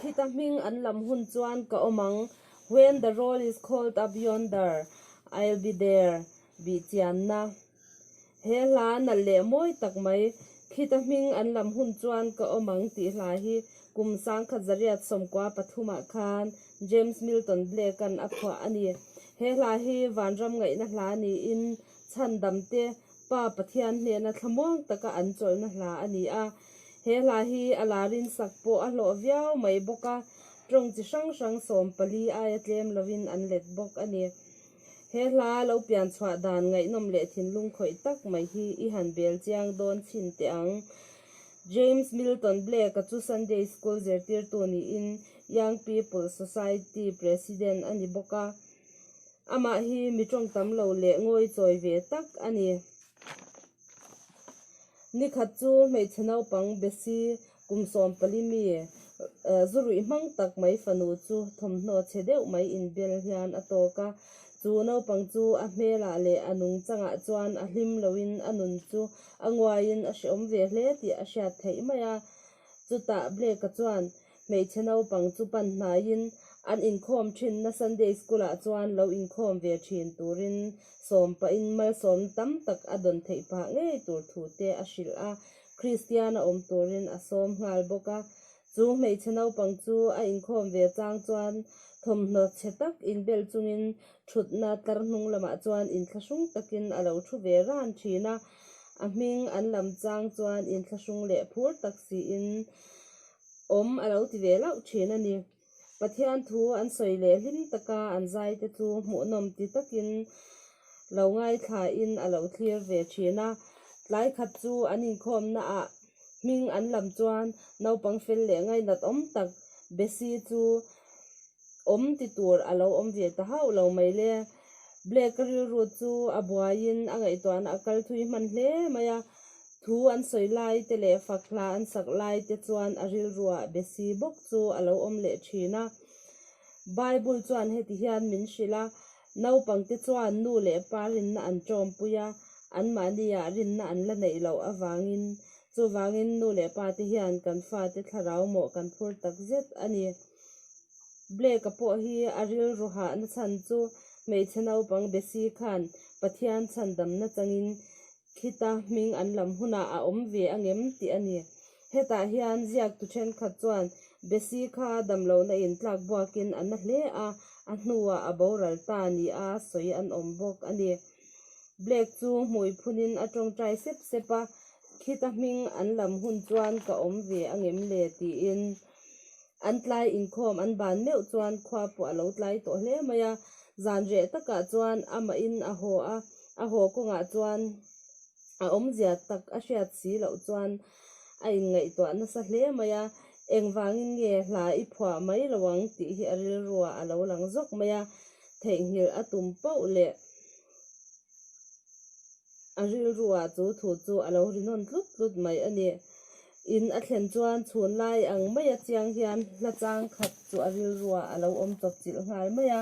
Khit a hming an lam hun chuan ka awm ang. When the roll is called up yonder, I'll be there, Bihchianna. He hla nalh leh mawi tak mai, Khit a hming an lam hun chuan ka awm ang tih hla hi kum sangkhat zariat sawmkua pathumah khan James Milton Blake-a'n a phuah a ni. He hla hi vanram ngaihna hla niin chhandamte, Pa Pathian hnena thlamuang taka an chawlhna hla a ni a, he hla hi a la rinsak pawh a hlawh viau mai bawk a, tawng chi hrang hrang sawm pali aia tlem lovin an let bawk a ni. He hla lo pian chhuah dan ngaihnawm leh thinlung khawih tak mai hi i han bel chiang dawn chin teh ang. James Milton Blake-a chu Sunday School zirtirtu niin Young People's Society President a ni bawk a, Amah hi mi tawng tam lo leh ngawi chawi ve tak a ni. Ni khat chu hmeichhe naupang besi kum sawm pali mi zu ruih hmang tak mai fanu chu thawmhnaw che deuh mai inbel hian a tawk a. Chu naupang chu a hmelah leh a nung changah chuan a hlim loin a nun chu a nguaiin a hreawm ve hle tih a hriat theih mai a. Chutah Black-a chuan. hmeichhe naupang chu pan hnaiin an inkhawm thin na Sunday School ah chuan lo inkhawm ve thin turin sawm pahin malsawmna tam tak a dawn theih pah ngei tur thu te a hrilh a, Kristian a awm turin a sawm nghal bawk a. Chu hmeichhe naupang chu a inkhawm ve chang chuan thawmhnaw chhe tak inbel chungin thutna tlar hnung lamah chuan inthlahrung takin a lo thu ve ran thin a, a hming an lam chang chuan inthlahrung leh phur tak siin awm a lo ti ve lauh thin a ni. Pathian thu an sawi leh hlim tak a, an zaite chu hmuhnawm ti takin lo ngaithlahin a lo thlir ve thin a. Tlai khat chu an inkhawmnaah hming an lam chuan naupang fel leh ngainat awm tak Bessie chu awm ti tur a lo awm ve ta hauh lo mai le. Black ka rilru chu a buaiin a ngaihtuahna a kal thui hman hle mai a. Thu an sawi laite leh fak hla an sak laite chuan a rilruah be si bawk chu a lo awm leh thin a. Bible chuan heti hian min hrilh a, Naupangte chuan nu leh pa rinna an ṭawmpui a, anmahni ah rinna an la neih loh avangin Chuvangin nu leh pa te hian kan fate thlarau mawh kan phur tak zet a ni. Blake-a pawh hi a rilru hahna chhan chu hmeichhe naupang Bessie khan Pathian chhandamna changin khita hming an lam hunah a awm ve a ngem tih a ni. Hetah hian ziaktu thenkhat chuan Bessie kha damlohna in tlak buakin a na hle a, a hnuah a boral ta nia sawi an awm bawk a ni. Black chu hmui phun in a tawngtai sep sep a, khit a hming an lam hun chuan ka awm ve a ngem le tiin an tlai inkhawm an ban meuh chuan khua pawh a lo tlai tawh hle mai a. Zan reh takah chuan amah in a haw a, a haw kawngah chuan a awmzia tak a hriat si loh chuan. a inngaihtuah nasa hle mai a, engvangin nge hla i phuah mai lo ang tih hi a rilrua a lo lang zawk mai a, theihnghilh a tum pauh leh a rilrua chu thu chu a lo rinawn tlut tlut mai a ni. In a thlen chuan chhun lai ang maia chiang hian hla chang khat chu a rilrua a lo awm chawpchilh nghal mai a.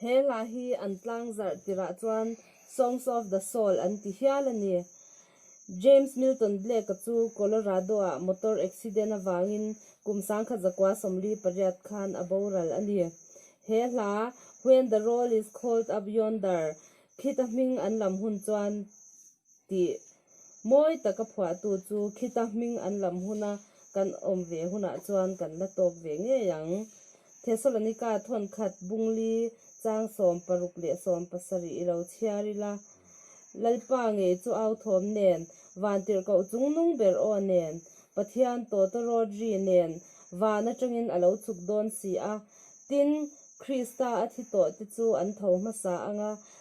He hla hi an tlangzarh tirah chuan Songs of the Soul an ti hial a ni. James Milton Blake-a chu Colorado-ah motor accident avangin kum sang kha zakua sawmli pariat khan a boral a ni. He hla When the Roll is Called Up Yonder khita hming an lam hun chuan. tih mawi taka phuahtu chu khita hming an lam huna kan awm ve hunah chuan kan la tawp ve ngei ang. Thessalonika thawnkhat bungli chang sawm paruk leh sawm pasarih i lo chhiar ila, Lalpa ngei chu au thawm nen, van tirh koh chung nung ber aw nen, Pathian tawta Rodri nen van atangin a lo chhuk dawn si a, tin Krista a thi tawhte chu an tho hmasa anga